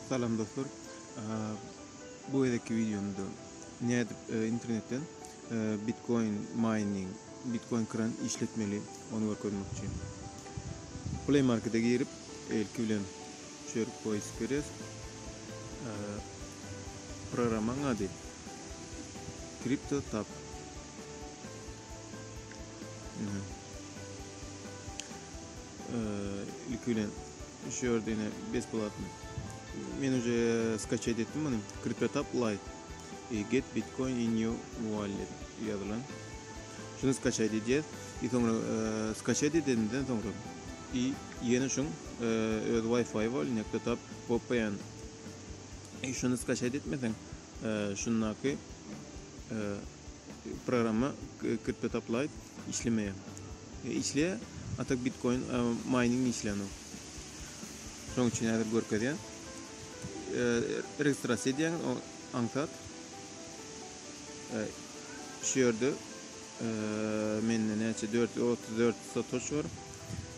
Salam dostlar. Bu gezekki wideomda nädip e, internetden e, Bitcoin mining, Bitcoin kran işletmeli ony görkezmekçi. Play Market'e girip, elki bilen çörük poýsk berýäs. E, programmaň ady Crypto Tap. Ilki bilen şu ýerde ine besplatny. Men uje skaçet etdim muny. CryptoTab Lite. E, get Bitcoin in your wallet ýazylan. Şuny skaçet edýär. E soňra e, skaçet edenden soňra i ýene şuň e, öz Wi-Fi bar, CryptoTab VPN. E şuny skaçet etmeseň, e, şundaky e, programma CryptoTab Lite işlemeýär. Işleýär ata bitkoin mayning işlänok. Şoň üçin häzir görkezýän. Registrasiýa edýäňiz o aňsat. Şu ýerde mende näçe 434 satoş bar.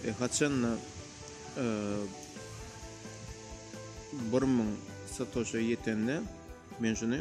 E, haçanda 1000 satoşa ýetende men şuny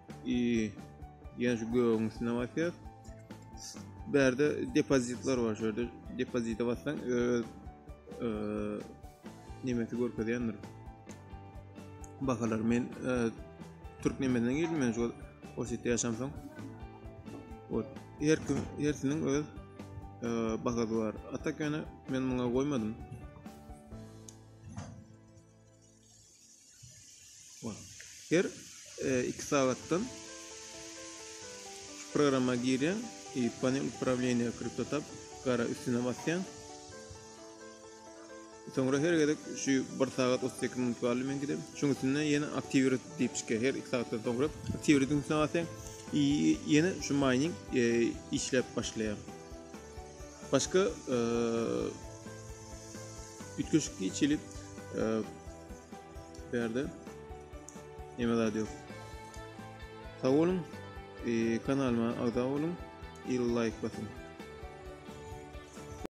Iii ýene şu gögüň üstüne basýas. Bärde depozitler bar şu ýerde. Depozite bassaň öz e, nemesi görkezýändir. Bahalar men e, türk nemesinden girdim men şu Orsýetde ýaşamsoň. Ot her kim hersiniň öz e, bahasy bar. Atak ýöne men muňa goýmadym. Her e, iki sagatdan şu programa girýän, e, panel upravleniýa kriptotab gara üstüne basýan. Soňra her gezek şu 1 sagat 32 minut galdy men gidip, şoň üstüne ýene aktiwirat diýip çykýar. Her 2 sagatdan soňra aktiwiratyň üstüne basýan, ýene şu mining e, işläp başlaýar. Başga üýtgeşik geçilip bärde neme zat ýok. Sag boluň. Kanalyma agza boluň. Il laýk basyň.